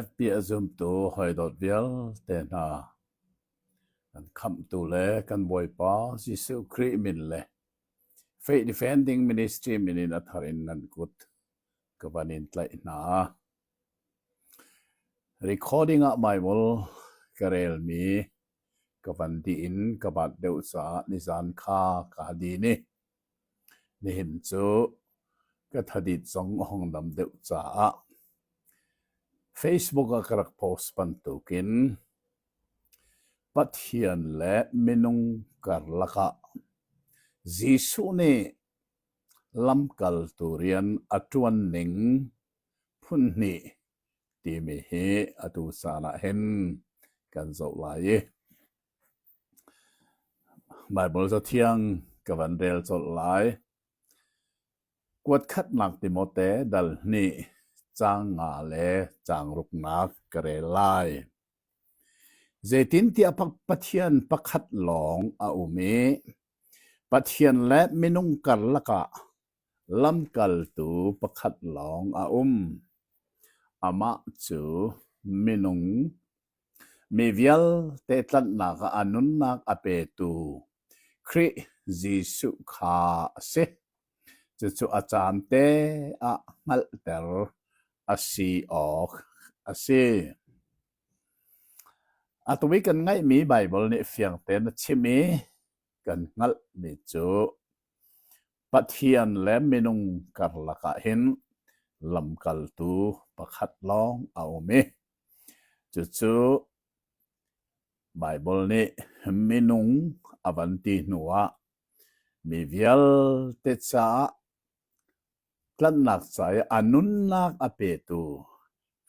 FB a zumtu hawidawt vialte hna, kan Khamhtu le kan Bawipa Jesuh Khrih min le Faith Defending Ministry min in a thar in nan kut ka van in tlaih hna. Recording ah maimawl ka relmi ka van dih in ka bat deuh caah nizan kha ka ha di ni. Nihin cu ka thadit zong a hong dam deuh caah Facebook ah ka rak post bantuk in Pathian le minung karlak ah Jesuh nih lamkaltu rian a ṭuan ning phun hnih timi hi atu caan ah hin kan zoh lai i. Baibal Cathiang ka van rel colh lai. Kuatkhatnak Timote dal hnih caang nga le caang ruknak ka rel lai. Zeitintiah Pathian pakhat lawng a um i Pathian le minung karlak ah lamkaltu pakhat lawng a um. Amah cu minung. Mi vialte tlanhnak ah a nunnak a petu Khrih Jesuh kha a si. Cucu a caan te ah hngalhter a si awk a si. Atu i kan ngaihmi Baibal nih fiangten a chim i kan hngalhmi cu Pathian le minung karlak ah hin lamkaltu pakhat lawng a um i Cucu Baibal nih minung a van ti hnuah mi vialte caah tlanhnak ca i a nunnak a petu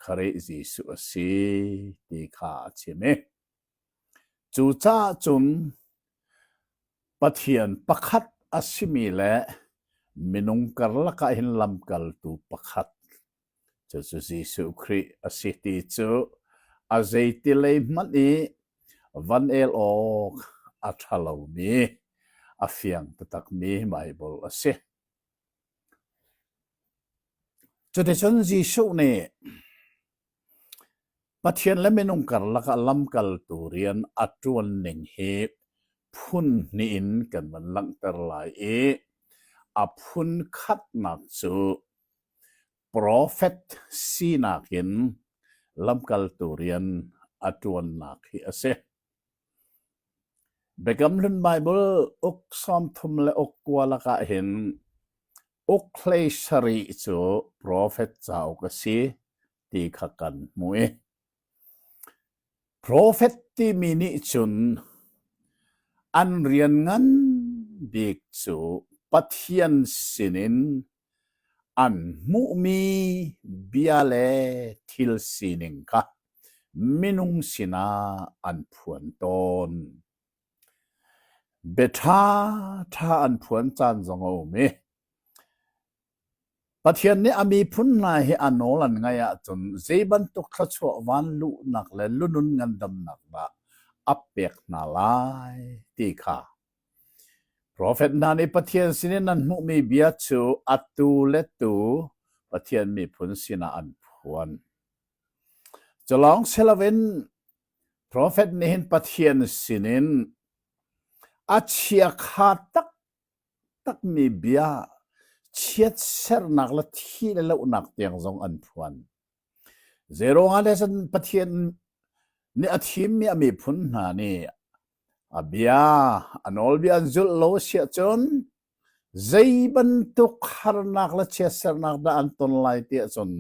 Khrih Jesuh a si ti kha a chim i cucaah cun Pathian pakhat a simi le minung karlak ah hin lamkaltu pakhat Cucu Jesuh Khrih a si ti cu a zeitilei hmanh i van el awk a ṭha lomi, a fiang taktakmi Baibal a si. Cuticun Jesuh nih Pathian le minung karlak ah lamkaltu rian a ṭuan ning hi phun hnih in kan van langhter lai i a phun khatnak cu Profet sinak in lamkaltu rian a ṭuannak hi a si. Biakam Hlun Baibal uk sawm thum le uk kua lakah hin uk hlei sarih cu profet cauk a si ti kha kan hmuh i profet timi nih cun an rian ngan bik cu Pathian sinin An hmuhmi bia le thil sining kha minung sinah an phuan tawn. Biaṭhaṭha an phuan caan zong a um i Pathian nih a miphun hna hi a nawl an ngaih ahcun zei bantuk thluachuah vanluhnak le lunun ngandamnak dah a pek hna lai ti kha Profet hna nih Pathian sinin an hmuhmi bia cu atu le tu Pathian miphun sinah an phuan. Culawng si loin profet nih hin Pathian sinin a chiakha taktakmi bia chiatsernak le thih le lohnak tiang zong an phuan. Zeiruangah le cun Pathian nih a thimmi a miphun hna nih a bia, a nawlbia an zulh lo a si ahcun zei bantuk harnak le chiatsernak dah an ton lai ti ahcun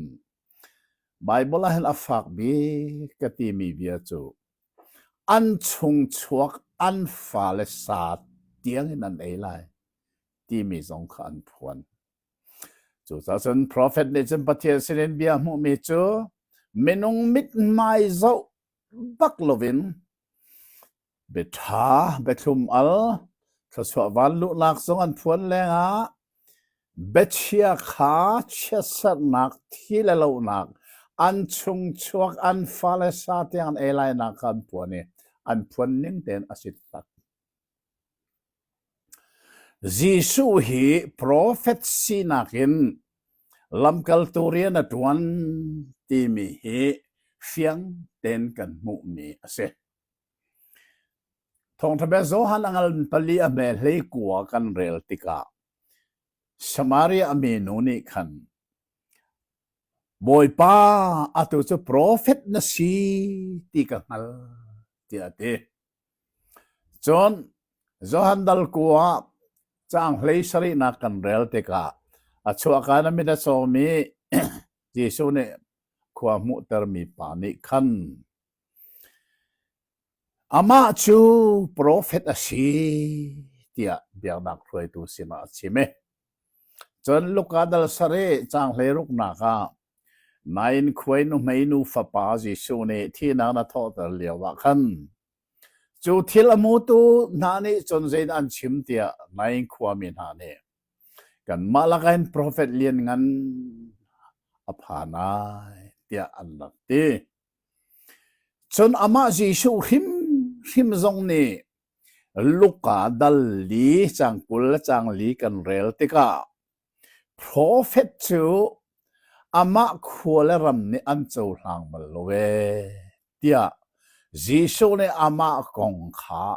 Baibal ah hin a fak bik ka timi bia cu an chungchuak an fale sa tiangin an ei lai timi zong kha an phuan. Cucaah cun profet nih cun Pathian sinin bia hmuhmi cu minung mithmai zoh bak loin biaṭha biathlum al thluachuah vanluhnak zong an phuan lengah biachia kha chiatserhnak thi le lonak an chungchuak an fale sa tiang an ei lainak kha an phuan i an phuan ning tein a si tak. Jesuh hi profet sinak in lamkaltu rian a ṭuan timi hi fiang tein kan hmuhmi a si. Thawngṭha bia Johan a ngal pali a hmel hlei kua kan rel tikah Samaria mi nu nih khan Bawipa atu cu profet na si ti ka hngal tiah a ti. Cun Johan dal kuu ah caang hlei sarihnak kan rel tikah a chuahka in a mit a cawm i Jesuh nih khua a hmuhtermi pa nih khan, “Amah cu profet a si,” tiah biaknak hruaitu sinah a chim i cun Luka dal sarih caang hleiruknak ah, Nain khuai nuhmei nufa pa Jesuh nih thihnak na thawhter lioah khan cu thil a hmutu hna nih cun zeidah an chim tiah Nain khuami hna nih kanmah lakah hin profet lianngan a phan ai tiah an rak ti. Cun amah Jesuh hrimhrim zong nih Luka dal li cang kul le cang li kan rel tikah Profet cu amah khua le ram nih an cohlang bal lo ee, tiah Jesuh nih amah kong kha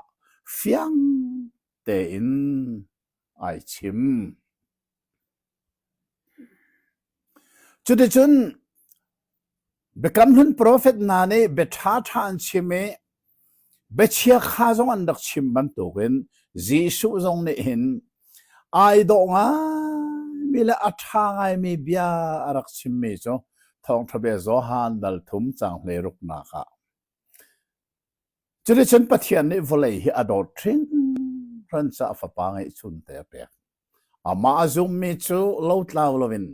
fiang tein ai chim. Cuticun Biakam Hlun profet hna nih biaṭha ṭha an chim i biachia kha zong an rak chim bantukin Jesuh zong nih hin ai dawh ngaimi le a ṭha ngaimi bia a rak chimmi cu Thawngṭha bia Johan dal thum cang hlei ruknak ah. Cuticun Pathian nih vawlei hi a dawt hringhran caah Fapa ngeihchunte a pek. Amah a zummi cu lotlau loin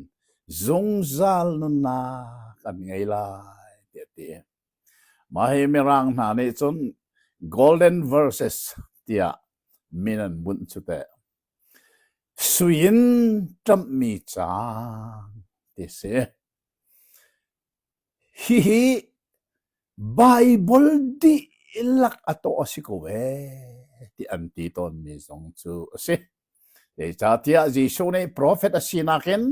zungzal nunnak an ngei lai, tiah a ti. Mah hi Mirang hna nih cun Golden Verses tiah min an bunh cu teh. Sui in ṭamhmi caan ti si. Hihi Baibal dihlak a tawh a si ko ee ti an ti tawnmi zong cu a si. Zeicahtiah Jesuh nih profet a sinak in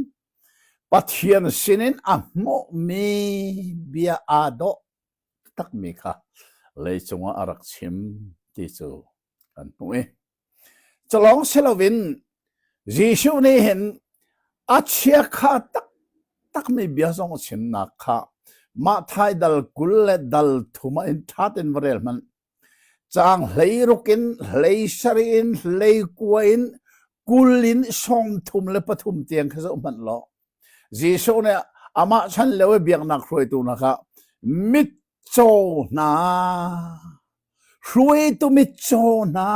Pathian sinin a hmuhmi bia aa dawh takmi kha leicung ah a rak chim ti cu kan hmuh i Culawng si loin Jesuh nih hin a chiakha taktakmi bia zong a chimnak kha Mathai dal kul le dal thum ah in ṭha tein va rel hmanh. Caang hleiruk in, hlei sarih in, hlei kua in, kul in sawm thum le pathum tiang kha zoh hmanh law, Jesuh nih amah chan lio i biaknak hruaitu hna kha mitcaw hna, hruaitu mitcaw hna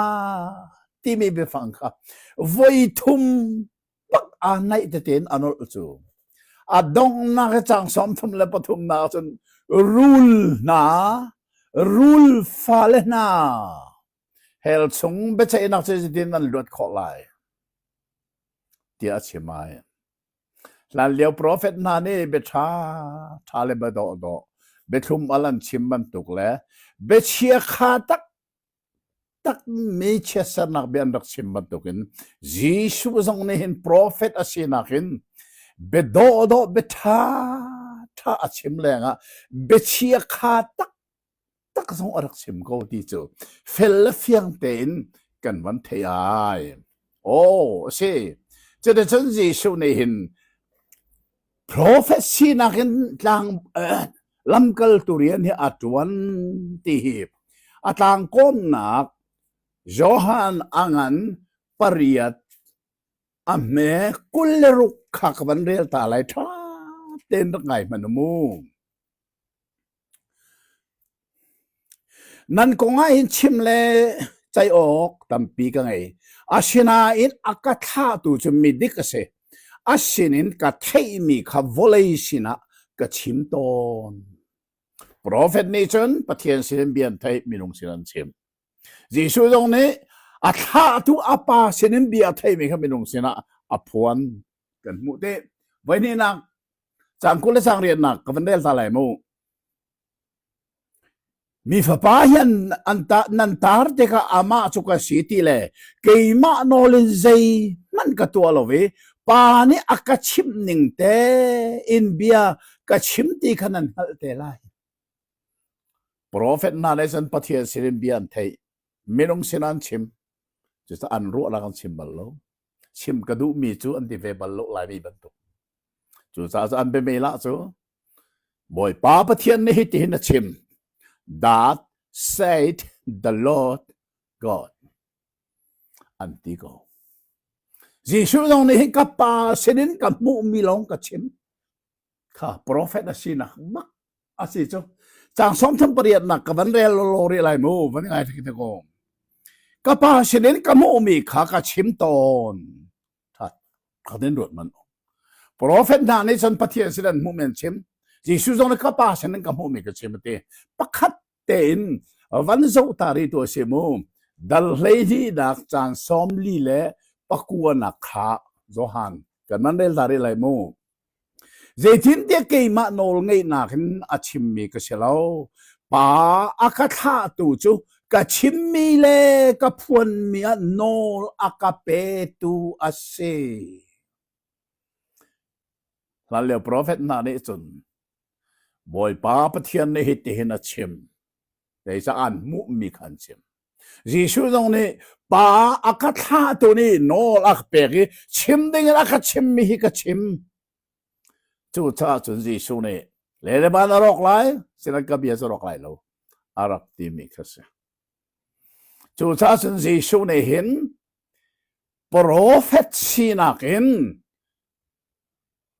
timi biafang kha voi thum pak aa naih tete in a nolh cu. A donghnak i caang sawmthum le pathumnak ah cun rul hna, rul fale hna, Hell chung biaceihnak cu zeitin an luat khawh lai? tiah a chim ai. Hlanlio profet hna nih biaṭha ṭha le biadawhdawh, biathlum al an chim bantuk le biachia kha tak takmi chiatsernak bia an rak chim bantukin Jesuh zong nih hin profet a sinak in biadawhdawh biaṭha ṭha a chim lengah biachia kha tak tak zong a rak chim ko ti cu fel le fiang tein kan van thei ai aw a si cuticun Jesuh nih hin profet sinak in tlang lamkaltu rian hi a tuan ti hi a tlang kawmnak Johan angan pariat a hme kul le ruk khak van rel ta lai tha ten rak ngai hman mu Nan kong ahhin chim le ceih awk tampi ka ngei. Asinain a ka thlahtu cu midik a si. A sinin ka theihmi kha vawlei sinah ka chim tawn. Profet nih cun Pathian sinin bia an theih, minung sin an chim. Jesuh zong nih a thlahtu a Pa sinin bia a theihmi kha minung sinah a phuan. kan hmuh te voihnihnak cang kul le sang riannak ka van rel hla lai mu mi fapa hian an ta nan tar te ka ama chu ka si ti le keimah nolin zei man ka tua lo i pa nih a ka chim ning te in bia ka chim ti kha nan hngalh te lai prophet na le san pathian sin in bia an thei minung sin an chim cucu an ruah la kan chim bal lo chim ka duhmi cu an ti ve bal lo lai mi bantuk. Cucaah an biamela cu Bawipa Pathian nih hitin a chim that said the Lord God an ti ko. Jesuh zong nih hi ka pa sinin ka hmuhmi lawng ka chim. kha profet a sinak bak a si cu cang som thum pariat nak ka van rel lo ri lai mu van ngai thaki te ko ka pa sinin ka mu mi kha ka chim ton that ka den ruat man profet na ni chan pathian sidan mu men chim Jesu zong ka pa sinin ka mu mi ka chim ti pakhat tein van zoh ta rih tuah si mu dal hlei hlihnak caan sawm li le pakuanak kha Johan kan man rel ta rih lai mu zeitintiah keimah nawl ngeihnak in a chimmi ka si lo pa a ka thlahtu cu ka chimmi le ka phuanmi ah nawl a ka petu a si Hlanlio profet hna nih cun Bawipa Pathian nih hitihin a chim, zeicah an hmuhmi kha an chim. Jesuh zong nih pa a ka thlahtu nih nawl a ka pek i chim dingin a ka chimmi hi ka chim. Cucaah cun Jesuh nih le le ban a rawk lai, sinan ka bia cu rawk lai lo, a rak timi kha a si. Cucaah cun Jesuh nih hin Profet sinak in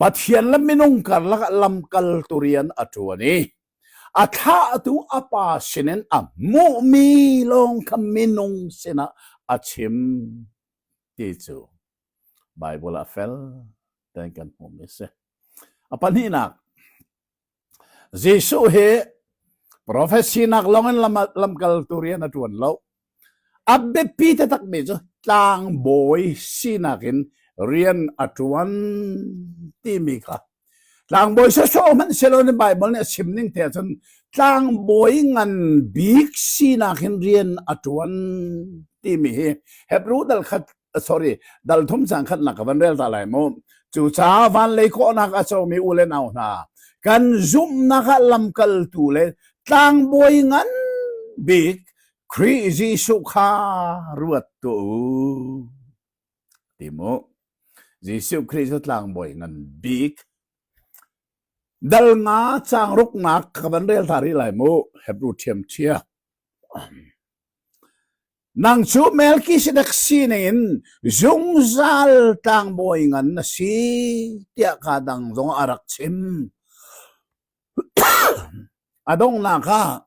Pathian le minung karlak ah lamkaltu rian a ṭuan i a thlahtu a Pa sinin a hmuhmi lawng kha minung sinah a chim ti cu Baibal ah a fel ti kan hmuhmi a si. A pahnihnak, Jesuh hi profet sinak lawngin lamkaltu rian a ṭuan lo. A biapi taktakmi cu tlangbawi sinak in rian a ṭuan timi kha tlangbawi sawsawh hmanh siloin Baibal nih a chim ning te ahcun tlangbawi ngan bik sinak in rian a ṭuan timi hi Hebrew dal kha sorry dal thum sang khat nak van rel ta lai mu cu cha van lei ko nak a chomi u le nau hna kan zumnak ah lamkal tu le tlangbawi ngan bik Khrih Jesuh kha ruat tu ti mu Jesuh Khrist cu tlangbawi ngan bik dal nga chang ruk nak ka van rel ta ri lai mu Hebrew thiam chia Nang cu Melkisedek sining in zungzal tlangbawi ngan na si tiah ka dang zong a rak chim. a donghnak ah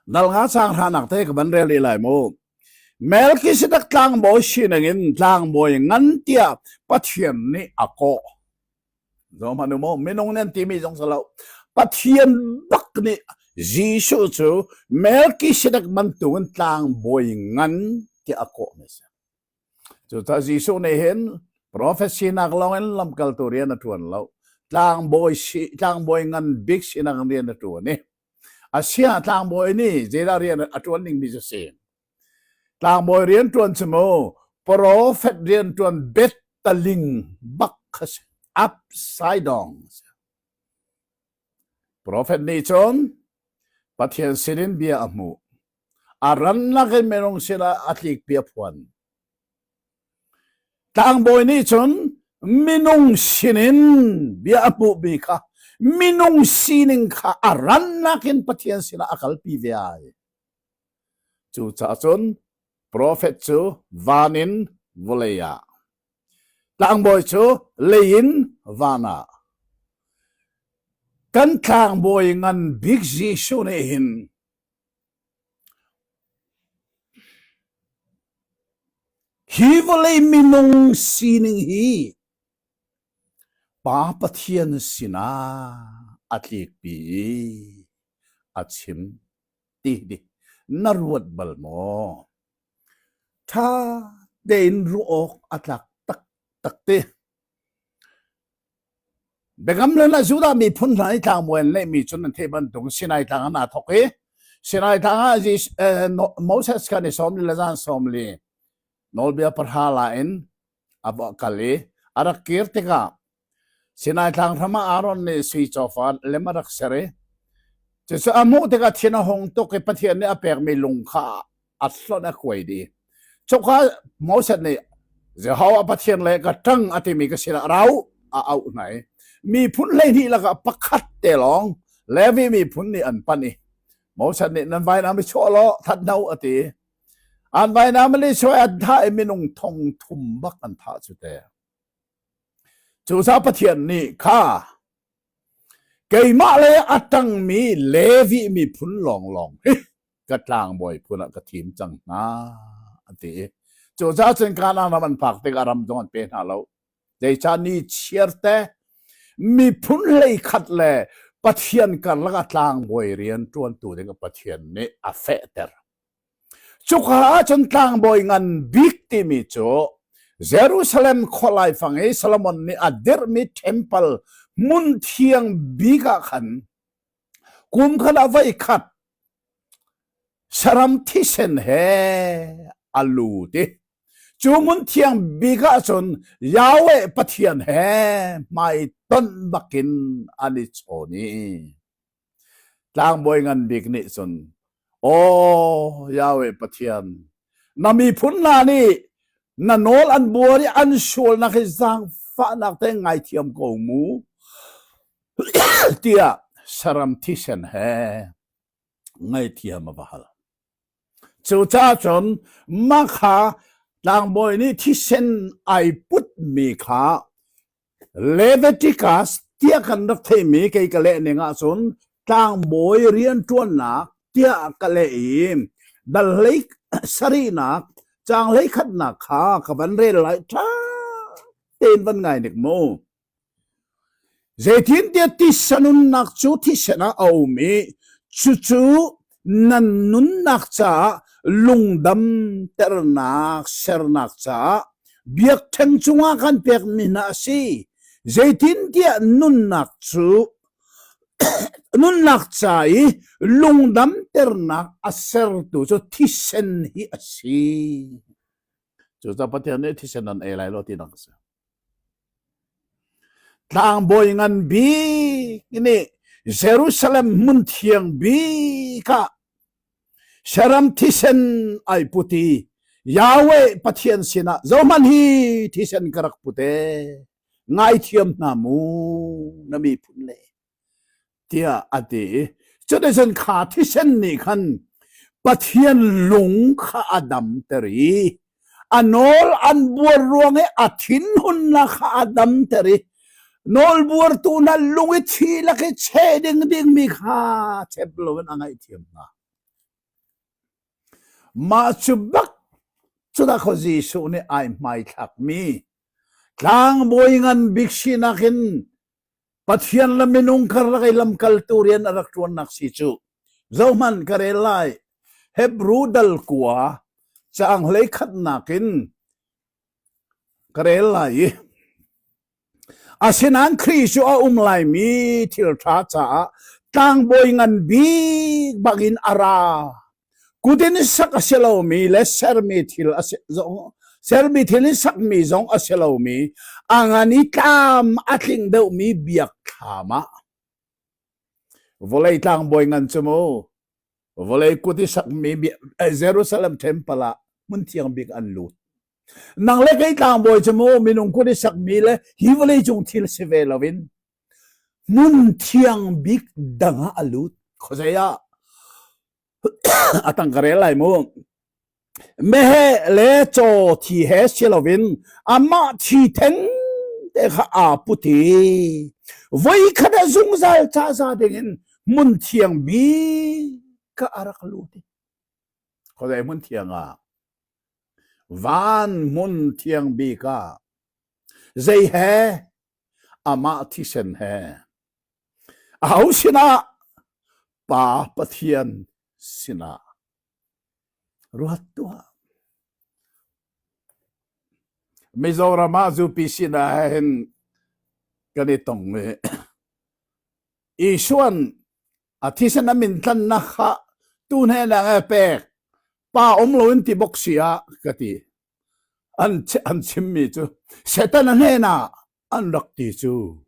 Dalnga sang hranak te ka van rel i lai mu. Melkisedek tlangbawi sining in tlangbawi ngan tiah Pathian nih a kawh. Zohhmanh u maw, minung nan timi zong si lo, Pathian bak nih Jesuh cu Melkisedek bantuk in tlangbawi ngan tiah a kawhmi a si. Cucah Jesuh nih hin profet sinak lawngin lamkaltu rian a ṭuan lo, tlangbawi, si, tlangbawi ngan bik sinak in rian a ṭuan i a siah tlangbawi nih zeidah rian a ṭuan dingmi cu a si? Tlangbawi rian ṭuan si maw, profet rian ṭuan Bethtaling bak kha si. Absaidong si. Profet nih cun Pathian sinin bia a hmuh. A ran nakin minung sinah a tlikpi a phuan. Tlangbawi nih cun minung sinin bia a hmuhmi kha minung sining kha a rannak in Pathian sinah a kalpi ve ai. Cucaah cun profet cu van in vawlei ah, tlangbawi cu lei in van ah, kan tlangbawi ngan bik Jesuh nih hin hi vawlei minung sining hi Pa Pathian sinah a tlikpi i a chim. ti hi na ruat bal maw? Ṭha tein ruah awk a tlak taktak ti. Biakam le na Judah miphun hna i tlangbawi an lehmi cun an theih bantuk Sinai tlang an aa thawk i Sinai tlang ah Moses kan i sawm li le zan sawm li nawlbia pahra la in a kal i a rak kir tikah Sinai Tlang hram ah Aaron nih sui cawfan lem a rak ser i cucu a hmuh tikah thin a hung tuk i Pathian nih a pekmi lung kha a hlonh a kuai dih. Cuka Moses nih Jehovah Pathian le ka ṭang a timi ka sinah rau a auh hna i miphun hleihnih lakah pakhat te lawng Levi miphun nih an panh i Moses nih nan vainam i chuah law that no a ti. An vainam Lisuai an thah i minung thong thum bak an thah cu te. Cucaah Pathian nih kha keimah le a ṭangmi Levi miphun lawnglawng hi ka tlangbawi phun ah ka thim cang hna an ti i cucaah cun Kanaan ram an phak tikah ram zong an pe hna lo. Zeicah ni chiarte miphun hlei khat le Pathian karlak ah tlangbawi rian ṭuantu ding Pathian nih a fehter. Cuka ahcun tlangbawi ngan bik timi cu Jerusalem khua laifang i Solomon nih a dirhmi ṭhempal hmun thiang bik ah khan kum khat a voi khat saram thisen he a lut i cu hmun thiang bik ah cun Yahweh Pathian he hmai tonh bakin an i chawn i Tlangbawi ngan bik nih cun, Aw Yahweh Pathian, na miphun hna nih na nawl an buar i an sualnak hi zaangfahnak te ngaithiam ko mu, tiah saram thisen he ngaihthiam a va hal. Cucaah cun mah kha tlangbawi nih thisen ai putmi kha Leviticus tiah kan rak theihmi kei ka lehning ahcun tlangbawi rianṭuannak tiah ka leh i dal hlei sarihnak caang hlei khatnak kha ka van rel lai ṭha tein van ngai nik mu. Zeitintiah tisa nunnak cu thisen ah a um i cucu nan nunnak caah lungdamternak sernak caah biakṭheng cungah kan pekmi hna a si. Zeitintiah nunnak cu nunnak ca i lungdamternak a sertu cu thisen hi a si. Cucaah Pathian nih thisen nan ei lai lo tinak a si. Tlangbawi ngan bik nih Jerusalem hmun thiang bik ah Saram thisen ai put i Yahweh Pathian sinah zohman hi thisen ka rak put e, ngaithiam hna mu na miphun le. tiah a ti i cuticun kha thisen nih khan Pathian lung kha a damter i a nawl an buar ruang i a thinhunnak kha a damter i nawlbuartu hna lung i thi lak i che ding dingmi kha chep loin a ngaihthiam hna. Mah cu bak cunak ho Jesuh nih ai hmaithlakmi tlangbawi ngan bik sinak in Pathian le minung karlak i lamkaltu rian a rak ṭuannak si cu. Zohhmanh ka rel lai. Hebru dal kua caang hlei khatnak in ka rel lai i asinain Khrih cu a um laimi thil ṭha caah tlangbawi ngan bik bangin a ra Kut in sak a si lomi le sermi thil a si zong sermi thil i sakmi zong a si lomi a ngan i tlam a tling deuhmi biakthlam ah vawlei tlangbawi ngan cu mu vawlei kut i sakmi Jerusalem temple ah hmun thiang bik an lut nang le kei tlangbawi cu mu minung kut i sakmi le hi vawlei cung thil si ve loin Hmun thiang bik dang ah a lut. Khuazei ah? a tang ka rel lai mu. Meheh le caw thi he si loin amah thi theng te kha aa put i voi khat ah zungzal caza dingin hmun thiang bik kha a rak lut i. Khuazei hmun thiang ah? Van hmun thiang bik ah. Zei he? Amah thisen he, aho sinah? Pa Pathian sinah ruat tuah. Mizoram ah zupi sinah hin kan i tong i Isuan a thisen a min tlan na kha tu hnenak e pek pa um lo in ti bok sia ka ti. an chimmi cu Satan a hnenah an rak ti cu.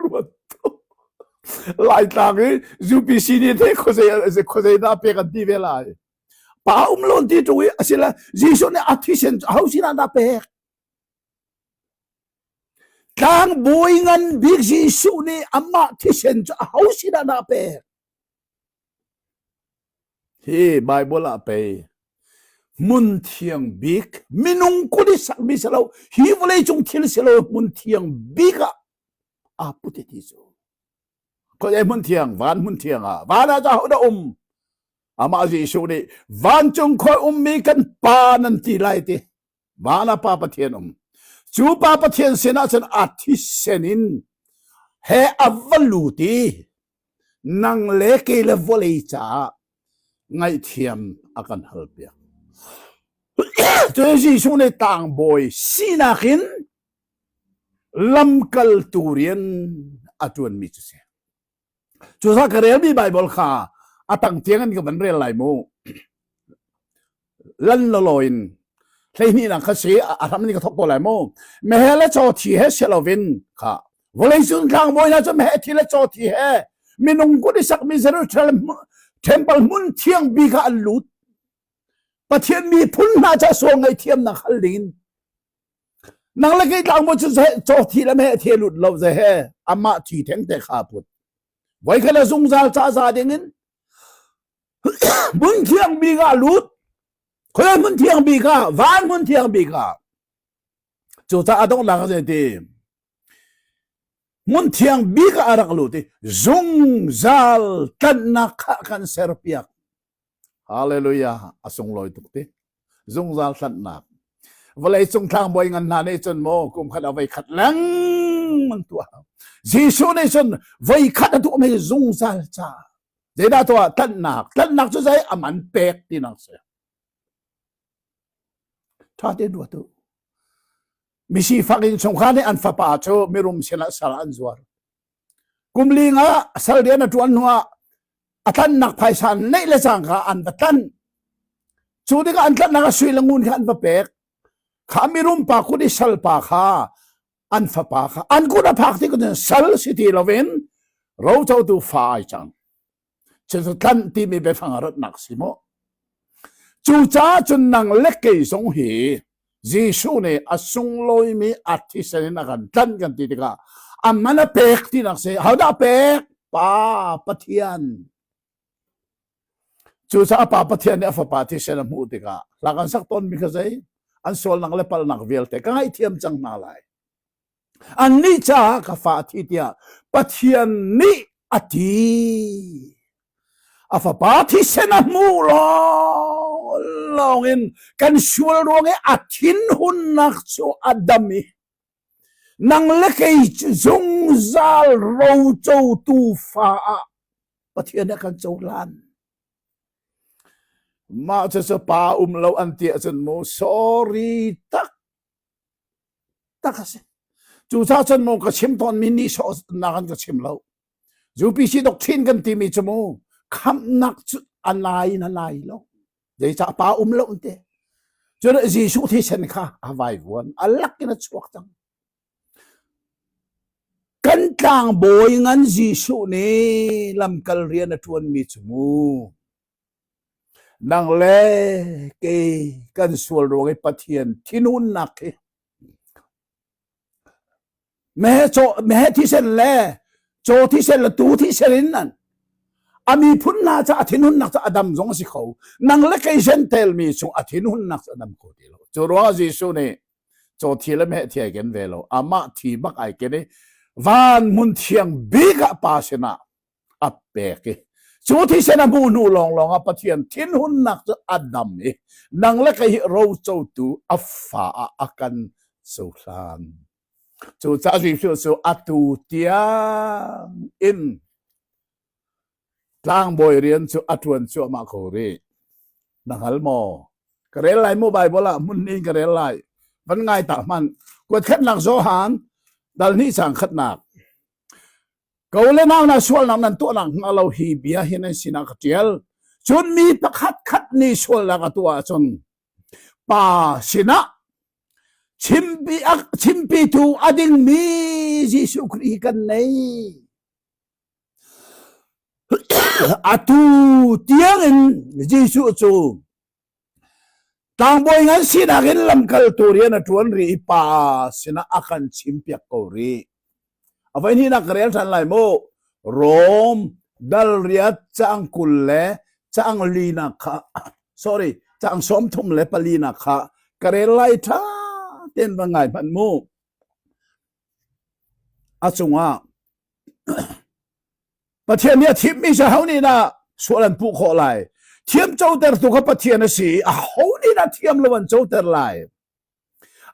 Ruat Laitlang i UPC nih the khuazei dah pek an ti ve lai. Pa um lon ti tu i asila Jesuh nih a thisen hau sinah dah pek. Tlang bawi ngan bik Jesuh nih amah thisen cu a hau sinah dah pek. Hi Baibal ah pei hmun thiang bik minung kut i sakmi si lo hi vawleicung thil si lo hmun thiang bik ah aa put i ti cu. Khuazei hmun thiang? Van hmun thiang ah. Van ah cu ahodah um? Amah Jesuh nih vancung khuai ummi kan Pa nan ti lai ti Mah la pa Pathian um. Cu pa Pathian sinah cun a thisen in he a va lut i nang le ke le vawlei caah ngaihthiam a kan hal piak. Cu Jesuh nih tang bawi sinak in lamkaltu rian a tuan mi cu si. Cusa ka relmi Baibal kha a tang tiang in ka van rel lai mu. Lan lo lo in hleihnih nang kha si a hram ni ka thok ko lai mu. Mehe le chaw thi he si lovin kha vawlei sun thlang boy na chu mehe thi le chaw thi he minung kun i sak mi Jerusalem temple mun thiang bi kha an lut Pathian mi phun hna cha sual ngai thiam nak hal ding in Nang le kei tlang maw cu seh caw thi le meh the lut lo ze he amah thi theng te kha put. Voi khat a zungzal ca za ding in hmun thiang bi ka lut. Khual hmun thiang bi ka van hmun thiang bi ka. Cu ca a dong lang ze ti. Hmun thiang bi ka arak lut i zungzal tlannak kha kan ser piak. Hallelujah! A sunglawi tuk ti. Zungzal hlanhnak. Vawleicung tlangbawi ngan hna nih cun maw kum khat a voi khat lengmang tuah. Jesuh nih cun voi khat a tuah mi zungzal ca. Zeidah tuah? Tlanhnak. Tlanhnak cu zei? Aman pek tinak si. Tha te dua tu. Misifak in chungkha nih an fapa cu mirum sinah sal an zuar. Kum ling ah sal rian a ṭuan hnuah a tlannak phaisa neih le cang kha an va tlanh. Cu tikah an tlanhnak ah sui le ngun kha an va pek. Kha mirum pa kut i sal pa kha an fapa kha an kut a phak ti kutin sal si ti loin rocotu fa ai cang. Chin cu tlanh timi biafang a ratnak si maw? Cucaah cun nang le kei zong hi Jesuh nih a sunglawimi artist in a kan tlanh kan ti tikah a man a pek tinak si. Hodah pek? Pa Pathian. Cucaah Pa Pathian nih a fapa thisen a hmuh tikah hlak an sak tawnmi kha zei? An sualnak le palhnak vialte ka ngaihthiam cang hna lai. Annih caah ka fa a thi tiah Pathian nih a ti. A fapa thisen a hmuh lawng in kan sual ruang i a thinhunnak cu a dam i nang le kei cu zungzal rocotu fa ah Pathian nih a kan cohlan. Mah cucu pa um lo an ti ahcun mu sorry tak Tak a si. Cucaah cun maw ka chim tawnmi nihsawhnak an ka chim lo. UPC doctrine kan timi cu mu khamnak cu a lai in a lai lo. Zeicah pa um lo te. Cun Jesuh thisen kha a vai vuan. A lak in a chuak cang. Kan tlang bawi ngan Jesuh nih lamkal rian a tuanmi cu mu Nang le kei kan sual ruang i Pathian thinhunnak hi meheh caw meheh thisen le caw thisen le tuu thisen in nan a miphun hna cu a thinhunnak cu a dam zong a si kho nang le kei sentel mi chung a thinhunnak cu a dam kho ti lo cu ruangah Jesuh nih caw thi le meheh thi ai ken ve lo amah thi bak ai ken i van hmun thiang bik ah pa sinah a pek i cu thisen a hmuh hnu lawnglawng ah Pathian thinhunnak cu a dam i nang le kei rocotu a fa ah a kan cohlan cucaah Jesuh cu atu tiang in tlangbawi rian cu a ṭuan cuahmah kho rih na hngal maw ka rel lai mu Bible ah hmun nih ka rel lai van ngai ta hman kuat khatnak Johan dal hnih sang khatnak Ko le nau hna sualnak nan tuahnak hna lo hi bia hi nan sinah ka ṭial. Cun mi pakhat khat nih sualnak a tuah ahcun pa sinah chimpi, chimpitu a dingmi Jesuh Khrih kan nei. Atu tiangin Jesuh cu Tlangbawi ngan sinak in lamkaltu rian a ṭuan rih i pa sinah a kan chimpiak ko rih. A voi hnih na ka rel ṭhan lai mu. Rom dal riat caang kul le caang linak kha sorry caang sawm thum le palinak kha ka rel lai ṭha ten va ngai hmanh mu. A cungah Pathian nih a thimmi si ho nih dah sual an puh khawh lai? Thiam coter tu kha Pathian a si i a ho nih dah thiam lo an coter lai?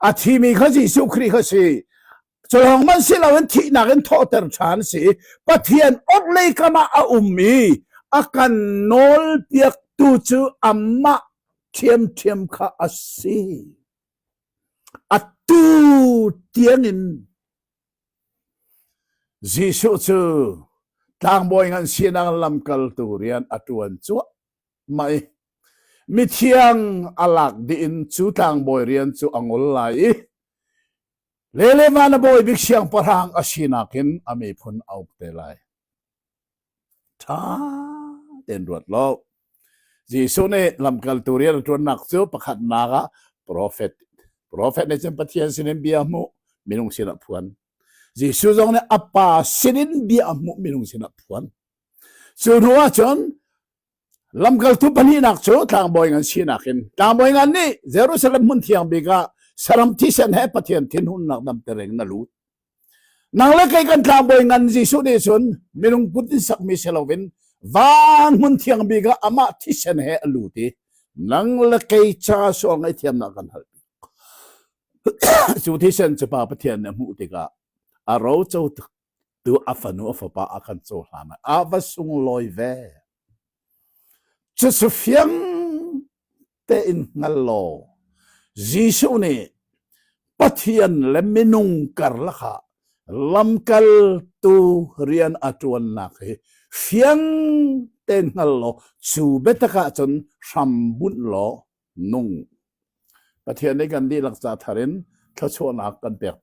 A thimi kha Jesuh Khrih kha si. Cu lawng man si loin thihnak in thawhter ṭhan si. Pathian orhlei kam ah a um i a kan nawlpiaktu cu amah ṭhiamṭhiam kha a si. A tu tiangin Jesuh cu tlangbawi ngan sinak lamkaltu rian a ṭuan cuahmah i mithiang a lak dih in cu tlangbawi rian cu a ngol lai i le le van a bawi bik siangpahrang a sinak in a miphun a uk te lai. ṭha tein ruat law Jesuh nih lamkaltu rianṭuannak cu pakhatnak ah profet profet nih cun Pathian sinin bia a hmuh minung sinah a phuan Jesuh zong nih a pa sinin bia a hmuh minung sinah a phuan cu hnu ah cun Lamkaltu pahnihnak cu tlangbawi ngan sinak in tlangbawi ngan nih Jerusalem hmun thiang bik ah saram thisen he Pathian thinhunnak damter in na lut. Nang le kei kan tlangbawi ngan Jesuh nih cun minung put in sakmi si loin van hmun thiang bik ah amah thisen he a lut i nang le kei ca suang ngaihthiamnak kan hal. cu thisen cu Pa Pathian nih a hmuh tikah a roco tuk Tu a fanu a fapa a kan cohlan ah a va sunglawi ve. Cucu fiang tein hngal law Jesuh nih Pathian le minung karlakha lamkaltu rian a tuannak hi fiang ten hngal law cu betakah cun hram bunh law nung Pathian nih kan dihlak ca thar in thluachuahnak kan pek piak